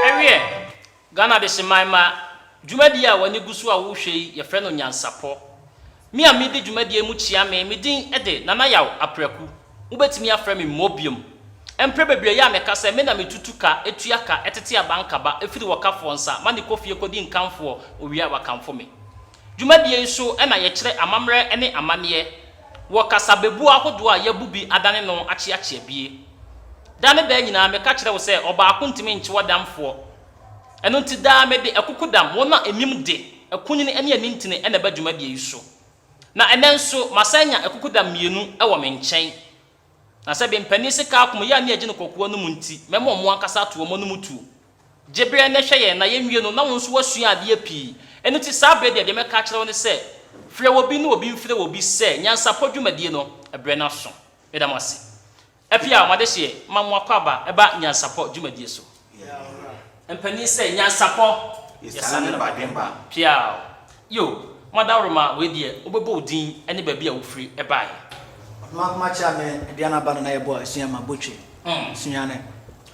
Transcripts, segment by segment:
Ɛweɛ, Ghana Adehyeman mma dwumadie a w'ani gu so a wohwɛ yi yɛfrɛ no Nyansapɔ. Me a medi dwumadie mu kyea me, me din de Nana Yaw Apraku. Mobɛtumi afrɛ me Mobium. Mprɛ bebree yɛ a meka sɛ me na me tutu ka, tua ka, tete abankaba, firi wɔkafoɔ nsa, ma no kɔ fie kɔdi nkamfoɔ, owia wakamfo me. Dwumadie yi so na yɛkyerɛ amammerɛ ne amanneɛ wɔ kasabebuo ahodoɔ a yɛabu bi adane no akyeakyea bie. Da ne da nyinaa meka kyerɛ wo sɛ ɔbaako ntumi nkye ɔdamfoɔ. Ɛno nti daa mede akukudam, wɔn a ɛmim de, akunini ne anintini na ɛba dwumadie yi so. Na ɛnnɛ nso masan anya akukudam mmienu wɔ me nkyɛn. Na sɛ bɛ mpanin se kaa kɔm yɛ a ne yɛgye no kɔkoa no mu nti, mɛma ɔmo ankasa ato ɔmo anom tuo. Gye berɛ na hwɛ yɛn, na yɛnwie no, na wo nso woasua adeɛ pii. Ɛno nti saa berɛ deɛ, deɛ mɛka akyerɛ wo ne sɛ, frɛ obi na obi mfrɛ obi sɛ nyansapɔ dwumadie no, berɛ no aso. Meda mo ase. Apia mo adehyeɛ ma mo akwaaba ba nyansapɔ dwumadie so. Mpanin sɛ, Nyansapɔ! Yɛsane ne ba den ba. Piaw! Yo! Madaworoma, wei deɛ wobɛbɔ wo din ne baabi a wofiri baeɛ. Ɔdomankoma kyea me dua no aba no na yɛbɔ asua ma botwe. Sunyane.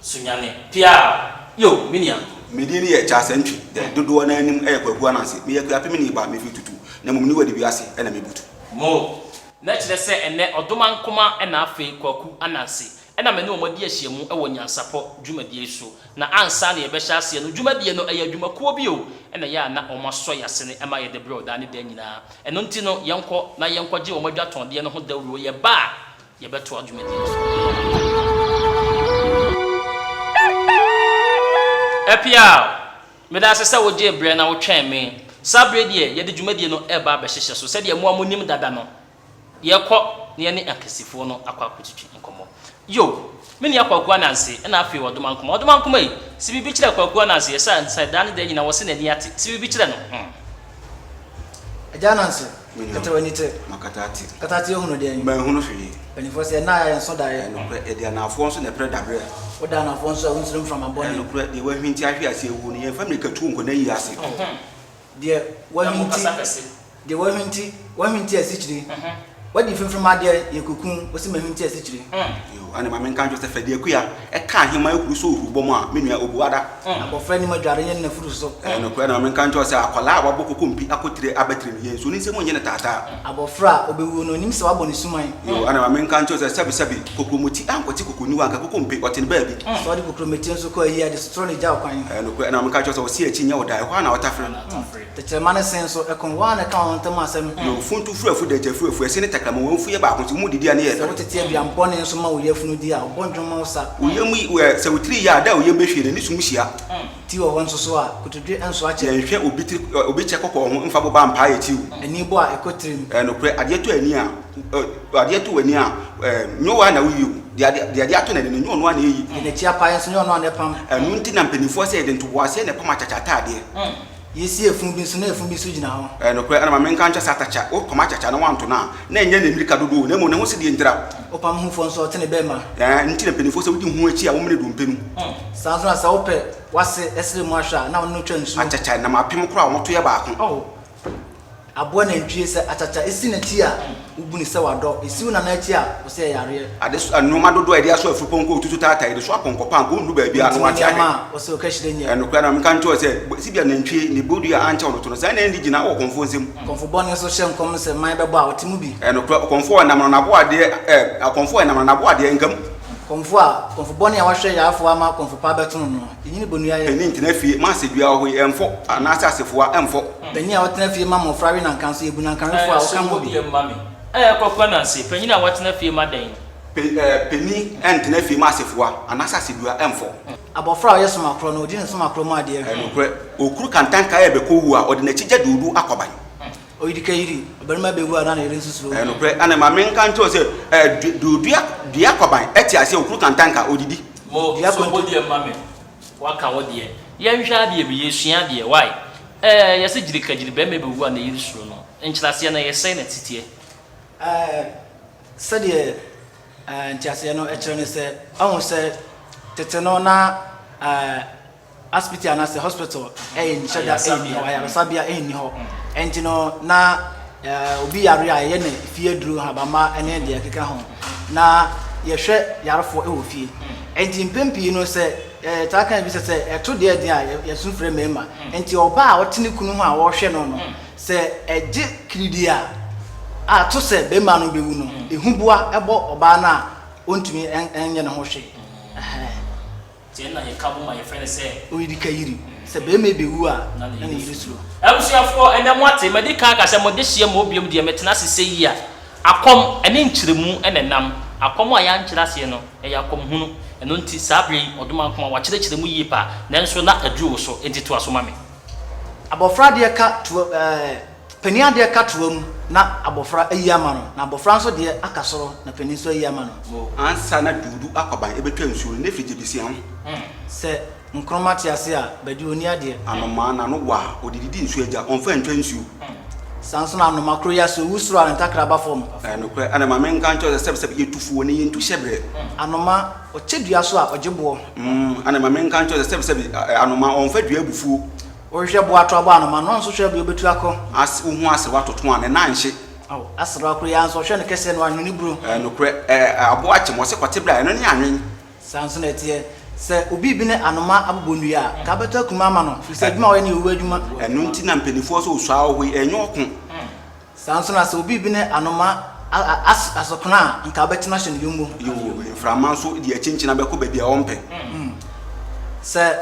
Sunyane. Piaw! Yo! Me nua. Me din yɛ Charles Antwi, dɛ dodoɔ no ara nim yɛ Kwaku Ananse. Meyɛ Akuapemni ba, mefiri Tutu, na mmom Niwadi wiase na mebutu. Mo! Na ɛkyerɛ sɛ ɛnnɛ Ɔdomankoma na afei Kwaku Ananse Ɛna me ne wɔn adi ahyiam wɔ nyansapɔ dwumadie yi so. Na ansa na yɛbɛhyɛ aseɛ no, dwumadie no, ɛyɛ adwumakuo bi o, ɛna ɛyɛ a na wɔasɔ yɛn asene ɛma yɛde brɛw daa ne daa nyinaa. Ɛno nti no, yɛnkɔ na yɛnkɔgye wɔn adwatɔndeɛ no ho dawuro, yɛba a, yɛbɛtoa dwumadie no so. Apiaw! Meda ase sɛ wogyee berɛ na wotwɛn me. Saa berɛ yi deɛ, yɛde dwumadie no reba abɛhyehyɛ so. Sɛdeɛ mo a monim dada no, Yɛkɔ na yɛne Ankesifoɔ no akɔ akɔtwitwi nkɔmmɔ. Yo! Me nua Kwaku Ananse na afei Ɔdomankoma. Ɔdomankoma ei! Se biribi kyerɛ Kwaku Ananse yɛ sa nsa daa ne daa nyina wɔse n'ani ate. Se biribi kyerɛ no hmm. Agya Ananse, Me nua, kata w'ani te. Makata ate. Kata ate ahunu deɛn? Manhunu hwee. Mpanyinfoɔ se ɛnna a yɛayɛ nso daeɛ. Ɛnokorɛ, yɛde anaafoɔ nso na ɛprɛ daberɛ. Woda anaafoɔ nso a wonsuro mframa bɔne. Ɛnokorɛ, deɛ wahwinti ahwe ase awu no, yɛmfa mmirika tuo nkɔ n'ayie ase. Deɛ w'ahwinti, deɛ w'ahwinti, w'ahwinti asikyire, w'adi mfimfini adeɛ yɛ kokuo, wɔsi m'ahwinti asikyire. Yoo, ɛna maame nka nkyerɛ sɛ fɛdi akuya, ɛka ahema akuru so ohuru bɔm a, me nua obu ada. Abɔfra nim adware nyɛ ne nafuru so. Ɛyɛ nokorɛ, ɛna maame nka nkyerɛ sɛ akwadaa a wabɔ kokompi akotire abɛtire no, yɛn nsuo ne nsam nyɛ no taataa. Abɔfra a ɔbɛwuo no, ɔnim sɛ wabɔ ne suman. Yoo, ɛna ma menka nkyerɛ wo sɛ, sɛbesɛbe, kokuromoti ankɔte kokuroni hɔ anka koko mpe, ɔte no baabi. Sɛ ɔde kokuromoti nso kɔ ayi ade so, toro no gyaw kwan. Ɛyɛ nokorɛ, ɛna ma menka nkyerɛ wo sɛ, ɔse akyi nyɛ wo da, ɛhɔ ara na wɔtafere. Tɛkyerɛma no sen so, ɛkorɔn, wɔn a na ɛka wɔn ntam asɛm. Yoo, funtu firi afuo, dɛgya firi afuo, ɛse ne tɛkrɛma, wɔn afuo yɛ baako, nso wɔn mu didi a, ne yɛ pɛ. Sɛ wotete aduan bɔne nso ma wo yafunu di a, ɔbɔ dwom ma wo sa. Wo yam yi, wo ɛ, sɛ wo tiri ye a, da a wo yam bɛhwie no, ɛne sum hyia. Ti wɔ hɔ nso so a, kotodwe nso akyɛ. Yɛnhwɛ obi tiri, obi kyɛ kɔkɔɔ ho mfa boba mpaa yɛ tiw. Ani bɔ a ɛkɔ tirim. Ɛɛ nokorɛ, adeɛ tɔ ani a, ɔ, adeɛ tɔ w'ani a, ɛɛ, nyɛ wo ara na woyi o. Deɛ adeɛ, deɛ adeɛ atɔ n'ani no, nyɛ ɔno ara na ɛyi. Deɛ n'akyi apae nso, nyɛ ɔno ara na ɛpam. Ɛno nti na mpanimfoɔ sɛ yɛde ntoboaseɛ na ɛpam akyakya ataadeɛ. Yɛsi afunu bi nso na afunu bi nso gyina hɔ. Ɛɛ nokorɛ, ɛna ma menka nkyerɛ sɛ atakya, wopam akyakya na woanto no a, na ɛnyɛ ne mmirika dodoɔ o, na mmom ne ho sɛdeɛ ntira. Ɔpam ho foɔ nso ɔte ne bɛɛma. Ɛɛ ɛno nti na mpaninfoɔ sɛ wodi ho akyi a wɔmmene dompe no. Saa nso na sɛ wopɛ w'ase ɛsere mu ahwɛ a na ɔno twa nsuo. Akyakya nam apem koraa wɔn to yɛ baako. Oh aboa nantwie sɛ akyakya esi n'akyi a wobu no sɛ wadɔ esi wo nana akyi a wɔsɛ yɛ yareɛ. Ade so nnoɔma dodoɔ a yɛde aso afurupɔnkɔ otutu taataa yɛde so apɔnkɔpɔ anka ɔndu baabi a na wate ahwɛ. Ntumi nneɛma a wɔsɛ ɔkahyire nyɛ. Ɛnokorɛ na menka nkyerɛ wo sɛ sibia nantwie ne bodua ankyɛ ɔno to no saa na ɛnni gyina wɔ kɔmfoɔ nsam. Akɔmfo bɔne nso hyɛ nkɔm sɛ mman bɛbɔ a ɔte mu bi. Ɛyɛ nokorɛ, ɔkɔmfo a ɛnam no n'aboadeɛ ɛ, ɔkɔmfo a ɛnam no n'aboadeɛ nka mu. Akɔmfo a, akɔmfo bɔne a wahwɛ yarefoɔ ama akɔmfo pa abɛto no no, ɛnyini bonua yɛ. Panin tena fie ma asedua ahoe ɛmfɔ, anaasɛ asefoa ɛmfɔ. Panin a ɔtena fie ma mmɔfra we nanka nso, yɛbu nankawefoɔ a ɔka ho bi. Ɛɛ, kɔko Ananse, panin a watena fie ma dɛn? Panin ɛntena fie ma asefoa, anaasɛ asedua ɛmfɔ. Abɔfra a ɔyɛ soma korɔ no, ɔdi ne soma korɔ mu adeɛ hwɛ. Nokorɛ, ɔkuru kantanka a ɛbɛkɔ owuo a, ɔde n'akyigya duudu akwaban. Oyirikayiri, ɔbarima bɛwu a na ne yere nso suro owuo. Nokorɛ, na ne maame nka nkyerɛ wo sɛ, du, du, dua, dua akwaban, te aseɛ, ɔkuru kantanka, ɔdidi. Mo, so wo deɛ ma me, waka wo deɛ. Yɛnhwɛ adeɛ bi, yɛsua adeɛ, wai? Ɛɛ, yɛse gyirikagyiri, barima bɛwu a ne yere suro no, nkyerɛaseɛ no, yɛsɛe n'aseteɛ. Ɛɛ, sɛdeɛ. Nteaseɛ no kyerɛ ne sɛ, ahu sɛ tete no na asipiti anaasɛ hospital nhyɛ da nni hɔ, ayaresabea nni hɔ. Ɛnti no na obi yare a yɛyɛ no fie aduru, nhabamma ne deɛ ɛkeka ho. Na yɛhwɛ yarefoɔ wɔ fie. Ɛnti mpɛn pii no sɛ yɛtaa ka bi sɛ sɛ ɛto deɛ den a yɛsu frɛ mmarima. Ɛnti ɔbaa a ɔte ne kunu ho a ɔrehwɛ no no. Sɛ ɛgye kiridii a, a to sɛ barima no bɛwu no, ehuboa bɔ ɔbaa no a ɔntumi nyɛ ne ho hwee. Ɛhɛɛ. Nti ɛnna yɛka bɔ mu a yɛfrɛ no sɛ. Oyirikayiri. Sɛ barima bɛwu a, na ne yere suro. Abusuafoɔ, ɛnnɛ moate, madi kan aka sɛ mo dehyeɛ mmɔ bio deɛ metena ase sɛ yi a, akɔm ne nkyerɛmu na ɛnam. Akɔm a yɛankyerɛ aseɛ no, ɛyɛ akɔmhunu. Ɛno nti, saa berɛ yi, Ɔdomankoma, woakyerɛkyerɛ mu yie paa, nanso na aduru wo so, enti toa so ma me. Abɔfra deɛ ka toa ɛɛ panin adeɛ ka toa mu na abɔfra ayi ama no, na abɔfra nso deɛ aka soro na panin nso ayi ama no. Mo ansa na Duudu akwaban bɛtwa nsuo no, Nefi gye bɛsia ho. Sɛ nkroma te ase a, Badu ɔnni adeɛ. Anomaa no ano wɔ a, ɔde didi nsuo agya, ɔmfa ntwa nsuo. Saa nso na anomaa koro yɛ, sɛ ɔwu soro a, ne ntakra ba fam. Ɛyɛ nokorɛ. Ɛnna ma menka nkyerɛ wo sɛ sɛbsɛb yɛtu fuo ne yɛntu hyɛberɛ. Anoma Ɔkyɛ dua so a, ɔgye boɔ. Mm, ana ma menka nkyerɛ wo sɛ sɛbisɛbi anoma ɔmfa dua abufuo. Wohwehwɛ boɔ ato abɔ anoma no, ɔnso hwɛ bea ɔbɛtu akɔ. As wohu aserewa toto a, ne nan nhye. Ao, aserewa koro yi ara nso, ɔhwɛ no kɛseɛ no, anwene buro. Ɛɛ, nokorɛ, ɛɛ, aboa akyem, ɔse kɔte berɛ a, ɛno ne anwen. Saa nso na ɛteɛ, sɛ obi rebi ne anoma abobɔ nnua a, ka bɛtɔ akuruma ama no, firi sɛ adwuma a ɔyɛ no yɛ owuo adwuma. Ɛno nti na mpaninfoɔ se osua ɔhoe, ɛnyɛ ɔko. Saa ara nso na sɛ obi bene anoma a, asokena a, anka wobɛtena ahyɛ no yommo. Yoo, mframa nso de akyinkyina bɛkɔ baabi a ɔmpɛ. Sɛ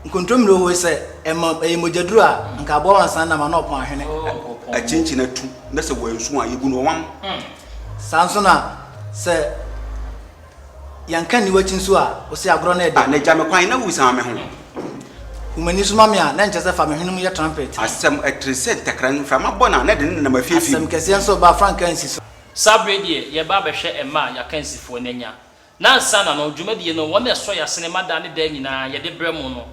nkontommire hoe sɛ ɛma ɛyɛ mogyaduru a, anka aboa wansa nnam a na ɔpɔn ahwene. Akyinkyina tu, na sɛ wansu a, yɛbu no ɔwam. Saa ara nso na sɛ. Yɛnka nni w'akyi nso a, wo se agorɔ no yɛ dɛ. Ah, na gya me kwan na wosan me ho. Hu m'ani so ma me a, na nkyɛ sɛ fa me hwenem yɛ trampɛt. Asɛm ɛtene sɛ ntɛkra, mframa bɔ no a, na ɛde ne nenam afiafia mu. Asɛm kɛseɛ nso reba a, frankaa nsi so. Saa bere yi deɛ, yɛreba abɛhwɛ mma a y'akansifoɔ no anya. Nnansa na no, dwumadie no, wɔn na ɛsɔ y'asene ma daa ne daa nyinaa, yɛde brɛ mo no.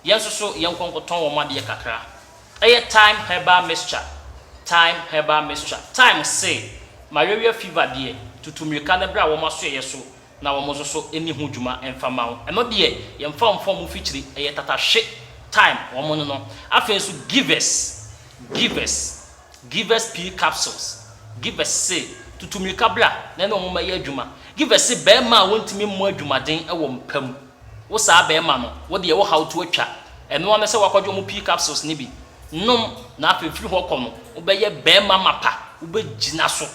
Yɛn nso so yɛn nkɔnkɔtɔn wɔn adeɛ kakra. Ɛyɛ Thyme herbal mixture Thyme herbal mixture Thyme se, Malaria fever deɛ, tutu mmirika na bra wɔn asoɛeɛ so na wɔn nso so nni ho dwuma mfa mma wo. Ɛno deɛ, yɛmfa mfa wɔn mfikyire. Ɛyɛ tatahwe Thyme wɔn no no. Afei nso Givers Givers Givers pea capsules Givers se, tutu mmirika bra na ɛne wɔn mmɛyɛ adwuma. Givers se, Barima a wɔntumi mmɔ adwumaden wɔ mpa mu. Wo saa bɛɛma no, wo deɛ wo haw to atwa. Ɛno ara ne sɛ woakɔgye wɔn pii capsules no bi nom na afei firi hɔ kɔ no, wo bɛyɛ bɛɛma mapa, wo bɛ gyina so.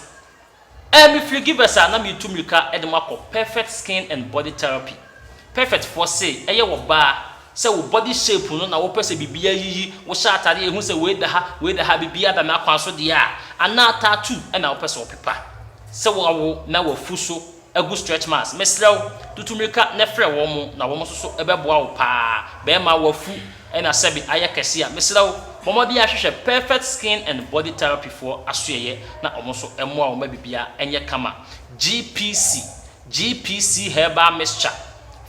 Ɛɛ me firi Givers a na me retu mirika de mo akɔ Perfect Skin and Body Therapy. Perfect foɔ se ɛyɛ wɔ baa, sɛ wo body shape no na wo pɛ sɛ biribiara yiyi, wo hyɛ atadeɛ a yɛhu sɛ wei da ha, wei da ha, biribiara da me akwan so deɛ a, anaa tattoo na wo pɛ sɛ wo pepa, sɛ wo awo na wafu so agu stretch marks mesrɛ wo tutu mmirika na frɛ wɔn na wɔn nso so ɛbɛboa wo paa bɛɛma wafu na sɛbe ayɛ kɛse a mesrɛ wo bɔ mmɔden a hwehwɛ perfect skin and body therapy foɔ asoɛeɛ na wɔn nso mmoa wo ma biribiara ɛnyɛ kama GPC GPC herbal mixture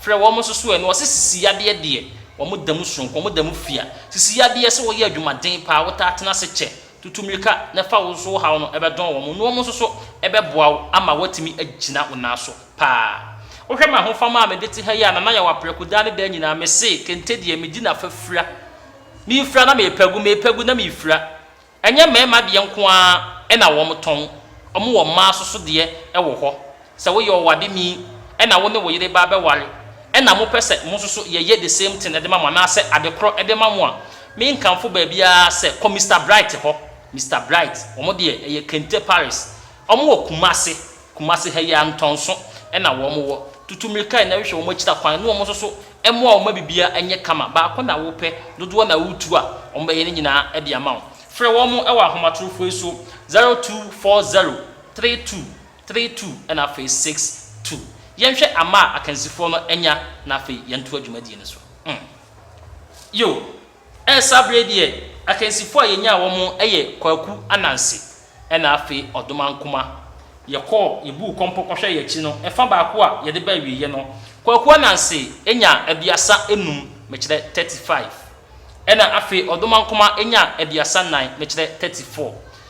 frɛ wɔn nso so ɛ na wɔse sisi yadeɛ deɛ wɔn damu soronko wɔn damu fia sisi yadeɛ sɛ wɔyɛ adwumaden paa wotaa tena ase kyɛ Tutu mmirika na fa wo nso wo haw no bɛdɔn wɔn, na wɔn nso so bɛboa wo ama woatumi agyina wo nan so paa. Wohwɛ m'ahofama a mede te ha yi a, Nana Yawapreko, daa ne daa nyinaa mese, kente deɛ, medi n'afa fira. Mefira na mepa gu, mepa gu na mefira. Ɛnyɛ mmarima deɛ nko ara na wɔtɔn, wɔwɔ mmaa nso so deɛ wɔ hɔ. Sɛ woyɛ ɔwade ni na wo ne wo yere ba abɛware na mopɛ sɛ mo nso so yɛyɛ the same thing de ma mo anaasɛ ade korɔ de ma mo a, me nkamfo baabiara sɛ kɔ Mister Bright hɔ, Mister Bright, wɔn deɛ ɛyɛ kente Paris, wɔn wɔ Kumasi, Kumasi ha yi ara ntɔnso na wɔn wɔ, tutu mmirika na hwehwɛ wɔn akyira kwan na wɔn nso so mmoa wo ma biribiara nyɛ kama, baako na wopɛ, dodoɔ na woretu a, wɔn bɛyɛ ne nyinaa de ama wo. Frɛ wɔn wɔ ahomatorofo yi so, zero two four zero three two three two na afei six two. Yɛnhwɛ ama a akansifoɔ no anya na afei yɛntoa dwumadie no so. Mm. Yoo. Ɛɛ saa berɛ yi deɛ akansifoɔ a yɛnyaa wɔn yɛ Kwaku Ananse na afei Ɔdom Ankomah. Yɛkɔɔ, yɛbuu kɔmpɔ kɔhwɛɛ yɛn akyi no, ɛfa baako a yɛde ba awieeɛ no, Kwaku Ananse nyaa aduasa nnum, mekyerɛ thirty five, ɛna afei Ɔdom Ankomah nyaa aduasa nnan, mekyerɛ thirty four.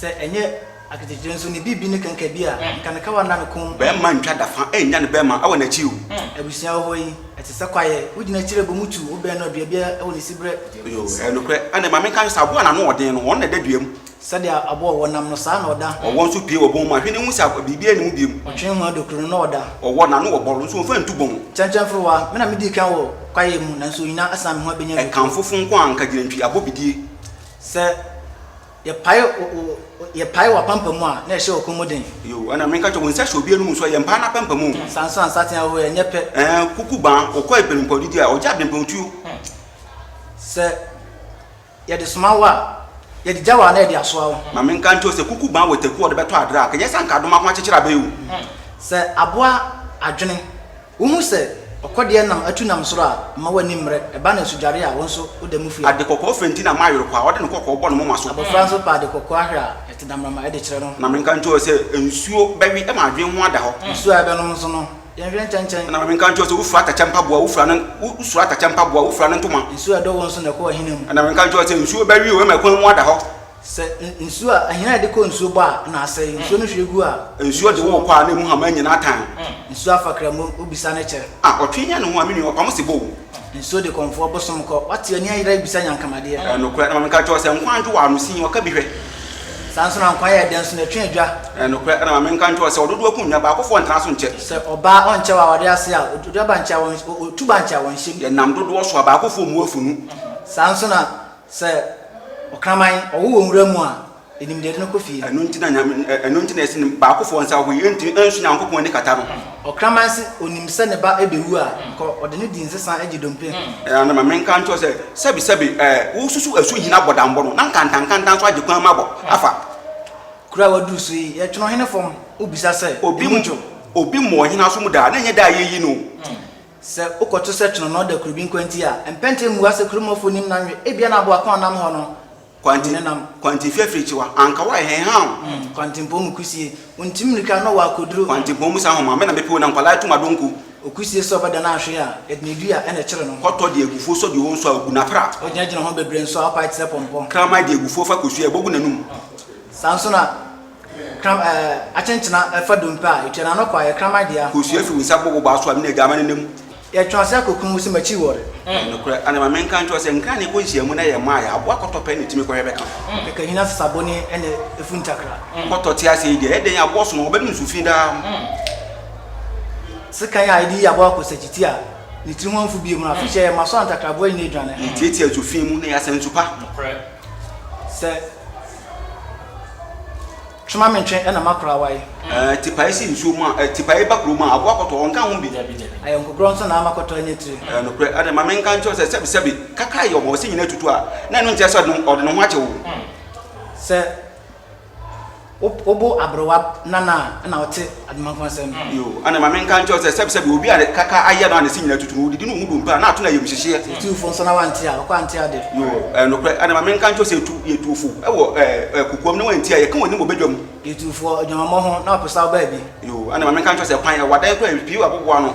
Sɛ ɛnyɛ aketekyire nso, ne bibi ne kɛnkɛ bi a nka ne kawa nna ne kɔn mu. Bɛɛma ntwa da fa ɛnnya ne bɛɛma ɛwɔ n'akyi o. Abusua wɔ hɔ yi ɛte sɛ kwaeɛ, wo gyina akyire bɔ mu tu, wo bɛn no a dua biara ɛwɔ ne siberɛ. Yoo, ɛyɛ nokorɛ. Ɛnna maame nka sɛ aboa a n'ano wɔ den no, ɔno na ɛda dua mu. Sɛdeɛ aboa a ɔwɔ nam no, saa ara na ɔda. Ɔwɔ nso pue wɔ bɔn mu a, hwɛ na hu sɛ biribiara nni mu bio. Ɔtwe ho a dokuro no, na ɔda. Ɔwɔ, n'ano wɔ bɔrɔ nso ɔmfa ntu bɔn. Kyɛnkyɛnforowa, me na medii kan wɔ kwaeɛ mu, nanso onyinaa asan me ho abɛnya dokuro. Ɛkamfofo nko a nka gyinantwi abɔ bidie. Sɛ. Yɛpae wo, wo, wo, yɛpae wo apampam a na ɛhyɛ ɔko mu den. Yoo, ɛna menka kyerɛ wo, wo nsa hyɛ obi anum so a, yɛmpae n'apampam o. Hmm, Sanso a nsateaa oo, ɛnyɛ pɛ. Ɛɛ, kuku baa, wokɔ abirempɔw didi a, ɔgye abirempɔw tuo. Hmm, Sɛ yɛde soma wo a, yɛde gya wo a na yɛde asoa wo. Ma menka nkyerɛ wo sɛ, kuku baa wɔ taku a wɔde bɛtɔ adra a, ka ɛnyɛ sɛ anka adoma ho akyekyerɛ abɛyɛ o. Hmm, Sɛ aboa adwene. Wuhu sɛ ɔkɔdeɛ nam atu nam soro a, mma w'ani mmere. Ɛba no asudware a, wo nso woda mu fua. Ade kɔkɔɔ fɛ nti na mayere kwa a, ɔde ne kɔkɔɔ bɔ ne moma so. Abofra nso pɛ ade kɔkɔɔ ahwɛ a, ɛte damramma de kyerɛ no. Na menka nkyerɛ wo sɛ, nsuo bɛwe ma adwene ho ada hɔ. Nsuo a ɛbɛnom nso no, yɛnhwɛ nkyɛnkyɛn. Na menka nkyerɛ wo sɛ, wofira atɛkyɛ mpaboa, wofira ne, wosura atɛkyɛ mpaboa, wofira ne ntoma. Nsuo a ɛdɔ wo nso na ɛkɔ w'ahina mu. Na menka nkyerɛ wo sɛ, nsuo bɛwe wo ma ɛkwan mu ada hɔ. Sɛ nsuo a, ahina a yɛde kɔ nsuo bɔ a na asɛe, nsuo no hwie gu a. Nsuo de wo kɔ a na emu hama nyinaa tan. Nsuo afakra mu, wo bisa ne kyɛ. Ah ɔtwe nya ne ho a, me nua ɔpamo se bɔ o. Nsuo de kɔmfoɔ bosom kɔ, wate ani ayera bisa nyankamadeɛ. Ɛyɛ nokorɛ, na ma menka nkyerɛ wo sɛ nkwa adwo wɔ ano sin, ɔka bi hwɛ. Saa nso na nkwa yɛ dɛ nso na ɛtwe adwa. Ɛyɛ nokorɛ, na ma menka nkyerɛ wo sɛ ɔdodoɔ ko nnya, baakofoɔ ntra so nkyɛ. Sɛ ɔbaa ɔnkyɛ wɔ awareɛ ase a, ɔdua ba nkyɛ a, ɔtu ba nkyɛ a wɔnhyem. Yɛnam dodoɔ so a, baakofoɔ mmu afunu. Saa nso na Sɛ ɔkraman ɔwo wɔ nwura mu a, enim deɛ ɛde no kɔ fie. Ɛno nti na Nyame, ɛno nti na yɛse ne baakofoɔ nsa wɔ hɔ yi, ɛntumi ɛnso Nyankopɔn ani kata no. Ɔkraman se onim sɛ ne ba ɛbɛwu a, kɔ ɔde no di nsesa ɛgye dompe ho. Ɛna na ma menka nkyerɛ wo sɛ, sɛbi sɛbi ɛɛ, wo susu ɛso hini abɔdambɔ no, na nkantan nkantan nso agye kwan mu abɔ afa. Kuro a waduru so yi, yɛtwe no hene fam, wobisa sɛ, emu dwo? Obi mmɔ ɔhene aso mu da, na ɛnyɛ da a yɛyi no o. Sɛ wokɔto sɛ kyononoo da kuro bi nkwanti a, mpɛn tee mmua sɛ kuromɔfo nnim nanwe. Ebia na aboa ko a ɔnam hɔ no Kwanti, hu ne nam. Kwanti fi afirikyikwa, anka woayɛ hɛn haa o. Kwantimpɔn mu kusie, wontim mmirika na ɔwɔ akoduro. Kwantimpɔn mu sa homa, me na mepew na nkwadaa tum adonko. Okusie sɛ ɔbɛdane ahwee a, Edna du a, ɛna ɛkyere no. Kɔtɔ de agufuo sɔ deɛ ɔnsu a, obu no apra. Ogyinagyina ho bebree nso a, ɔpae te sɛ pɔmpɔ. Kraman de agufuo fa kosua a, ɛbɔ gu n'anum. Saa nso na. Kram eh, akyenkyena eh, fa dompe a etwa n'ano kɔ a yɛ kraman dea. Kosua eh. fi wo nsa bɔ wo baa so a me na agyaama ne nam. Yɛ twe ase akɔ kun wo se m'akyi wɔ re. Ɛyɛ nokorɛ ana ma me nka nkyerɛ wo sɛ nkran na ɛkɔ nhyiamu na yɛ mmaa yɛ aboa kɔtɔ pɛ na ɛtumi kɔhwɛ bɛka ho. Kɛkɛ hina sesabo ne ɛna ɛfu ntakra. Kɔtɔ te ase yi deɛ ɛdɛn aboɔ so no ɔbɛnom nsu fi daa. Sekan a ɛde yi aboa kɔ sakyiti a ne tiri ho amfu bio mu no afe hyɛ yɛ mma so a ntakraboa nyina adwane ho. Yɛ tiatia nsu fi mu na yɛ asa nsu pa. Nokorɛ. Sɛ. Twema me ntwe na makora wae. Ɛɛ tipae si nsuo mu a ɛɛ tipae ba kurom a aboa kɔtɔ ɔnka ho bi. Dabi dabi. Ayɔnkokorɔ nso na ama kɔtɔ anya tire. Ɛɛ nokorɛ ɛna ma menka nkyerɛ wo sɛ sɛbi sɛbi kakra yɛ ɔma ɔse nyina atutu a na ɛno nkyerɛ sɛ ɔde ɔde ne ho akyɛ wo. Sɛ wo bo aberewa nana a ɛna ɔte. Adomanfo asɛm. Yo, ana ma menka nkyerɛ wo sɛ, sɛbsɛbe obi a kaka ayɛ no a ne se nyina tutu no, odidi no ho dɔ mpo a, na ato no ayamhyehyeɛ. Sɛ etuu fo nso na wante a, ɔkɔ ante ade. Yo, ɛyɛ nokorɛ. Ana ma menka nkyerɛ wo sɛ etu, yɛtuu fo wɔ, ɛɛ, kokoam na wanti a, yɛka w'anim wɔ badwam. Yɛtuu fo wɔ adwamammɔ ho na ɔpɛ sɛ ɔbaa bi. Yo, ana ma menka nkyerɛ wo sɛ kwan, ɛwɔ adan koraa a pii aboboa ano.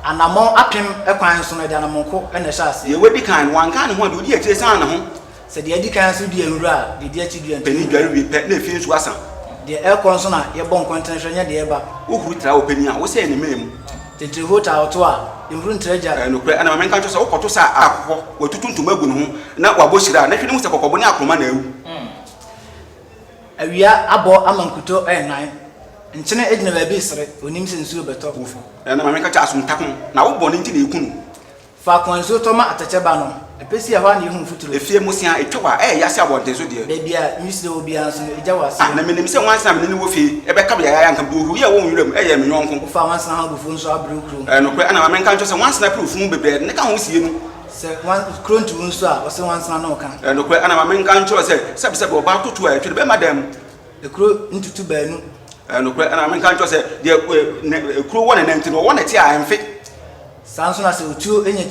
Anammɔn apem kwan nso no, ɛde anammɔnko na ɛhyɛ aseɛ. Deɛ wadi kan no, wanka ne ho a, deɛ odi akyire san ne ho. Sɛ deɛ adi kan so dua nwura a, deɛ edi akyi dua ntumi nni mu. Panin dware wie pɛ na efi nsuo asa. Deɛ ɛrekɔ nso na yɛbɔ nkɔntene hwɛ, nyɛ deɛ ɛreba. Wohuru tra wɔ panin a, wosɛe ne mena mu. Titire hoo taa ɔtoɔ a, nhuru ntra gya. Ɛyɛ nokorɛ, ɛna ma menka nkyerɛ wo sɛ, wokɔto sa a akokɔ, watutu ntoma agu ne ho, na wabɔ hyira a, na hwɛ na hu sɛ kɔkɔbo ne akoroma na awu. Awia abɔ ama nkutoo renan. Nkyene gyina baabi resere, ɔnim sɛ nsuo rebɛtɔ. Ɛna ma menka kyerɛ asomtakɔm, na wo bɔne nti na ɛreku no. Faako a nsuo tɔ ma atɛkyɛ ba no, ɛpɛ si a, ɛhɔ ara na yɛhu mfuturo. Efie mmosea a etwa hɔ a, ɛyɛ yɛ ase abɔnten so deɛ. Baabi a nwisirie wɔ biara nso no, egya wɔ aseɛ. Ah, na minim sɛ nwansena a me ne no wɔ fie bɛka beae a anka bohuru yi a ɛwɔ wo nwura mu yɛ me yɔnko. Wofa nwansena ho abufuo nso abre wo kurom. Ɛyɛ nokorɛ, ɛna ma menka nkyerɛ wo sɛ nwansena pere funu bebree a ɛde no ka ho sie mu. Sɛ nwan, kuro ntu wo nso a, ɔse nwansena ne wo ka. Ɛyɛ nokorɛ, ɛna ma menka nkyerɛ wo sɛ sɛbesɛbe ɔbaa toto a ɛtwere bɛma dam. Ekuro ntutu baanu. Ɛyɛ nokorɛ, ɛna menka nkyerɛ wo sɛ, deɛ ekuro wɔ ne nan ti no, ɔwɔ ne ti a ɛmfe. Saa ara nso na sɛ otuo nya ti.